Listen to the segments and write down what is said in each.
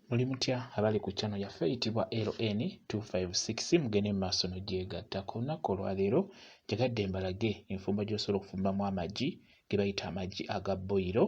Muli mutya abali ku channel yaffe eyitibwa LN256 mugende mu maaso n'ogyegatta. Ku lunaku olwaleero njagadde mbalage enfumba gy'osobola okufumbamu amagi ge bayita amagi aga boyiro.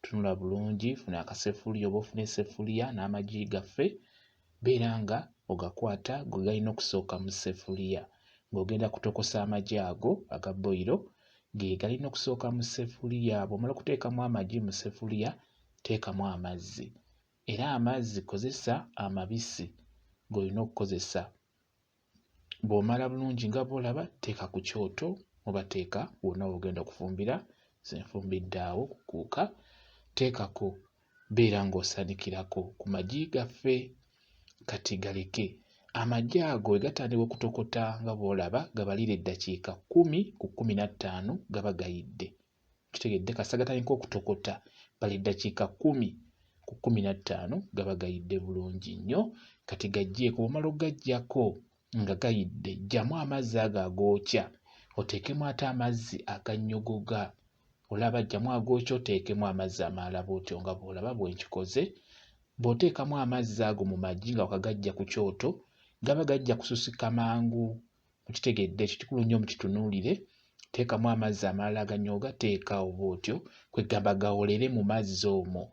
Tunula bulungi, funa akasefuliya oba ofuna esefuliya n'amagi gaffe, beera nga ogakwata gwe galina okusooka mu sefuliya ng'ogenda kutokosa amagi ago aga boyiro ge galina okusooka mu sefuliya. Bw'omala okuteekamu amagi mu sefuliya teekamu amazzi. era amazzi kozesa amabisi g'olina okukozesa. Bw'omala bulungi nga bw'olaba teeka ku kyoto oba teeka wonna w'ogenda okufumbira, nze nfumbidde awo ku kuuka, teekako beera ng'osanikirako ku magi gaffe kati galeke amagi ago bwe gatandika okutokota nga bw'olaba gabalira eddakiika kkumi ku kkumi na ttaano gaba gayidde kitegedde kasagataniko okutokota bali ddakiika kumi ku kumi na ttaano gaba gayidde bulungi nnyo kati gajjeeko bwomala okugajjako nga gayidde jjamu amazzi ago agookya oteekemu ate amazzi agannyogoga olaba jjamu agookya oteekemu amazzi amaalala bwotyo nga bwolaba bwenkikoze bw'oteekamu amazzi ago mu magi nga wakagajja ku kyoto gaba gajja kususika mangu mukitegedde ekyo kikulu nnyo mukitunuulire teekamu amazzi amalala aganyooga teeka oba otyo kwegamba gawolere mu mazzi omwo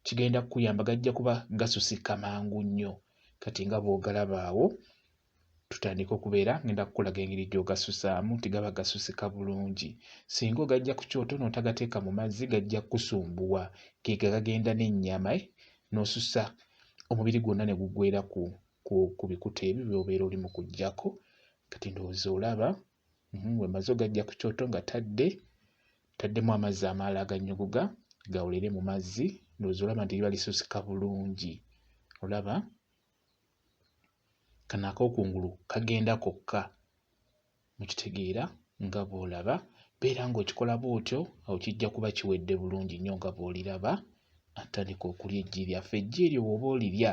kigenda kukuyamba gajja kuba gasusika mangu nnyo kati nga bw'ogalabaawo tutandika okubeera ngenda kukulaga engeri gy'ogasusaamu nti gaba gasusika bulungi singa ogajja ku kyoto n'otagateeka mu mazzi gajja kukusumbuwa geega gagenda n'ennyama eh, n'osusa omubiri gwonna ne gugwera ku ku bikuta ebyo by'obeera oli mu kuggyako kati ndowooza olaba mhm, bwe maze ogajja ku kyoto nga tadde taddemu amazzi amaala aganyuguga gawulire mu mazzi ndowooza olaba nti liba lisusika bulungi olaba kano akokungulu kagenda kokka Mukitegeera? Nga bw'olaba, beera ng'okikola bw'otyo, awo kijja kuba kiwedde bulungi nnyo nga bw'oliraba. Atandika okulya eggi lyaffe. Eggi eryo bw'oba olirya,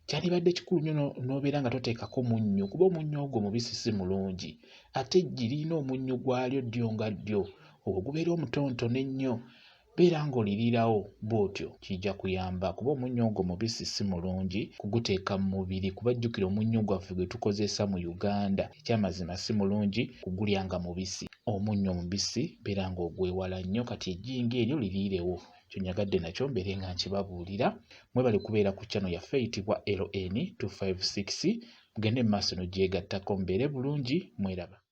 kyandibadde kikulu nnyo n'obeera nga toteekako munnyo, kuba omunnyo ogwo mubisi si mulungi. Ate eggi lirina omunnyo gwalyo ddyo nga ddyo, ogwo gubeera omutonotono ennyo. beera ng'oliriirawo bw'otyo kijja kuyamba kuba omunnyo ogwo mubisi si mulungi kuguteeka mu mubiri kuba jjukira omunnyo gwaffe gwe tukozesa mu Uganda ekyamazima si mulungi kugulya nga mubisi omunnyo omubisi beera ng'ogwewala nnyo kati ejjinga eryo liriirewo kyonyagadde nakyo mbeere nga nkibabuulira mwebale kubeera ku channel yaffe eyitibwa LN256 mugende mu maaso nogyegattako mbeere bulungi mweraba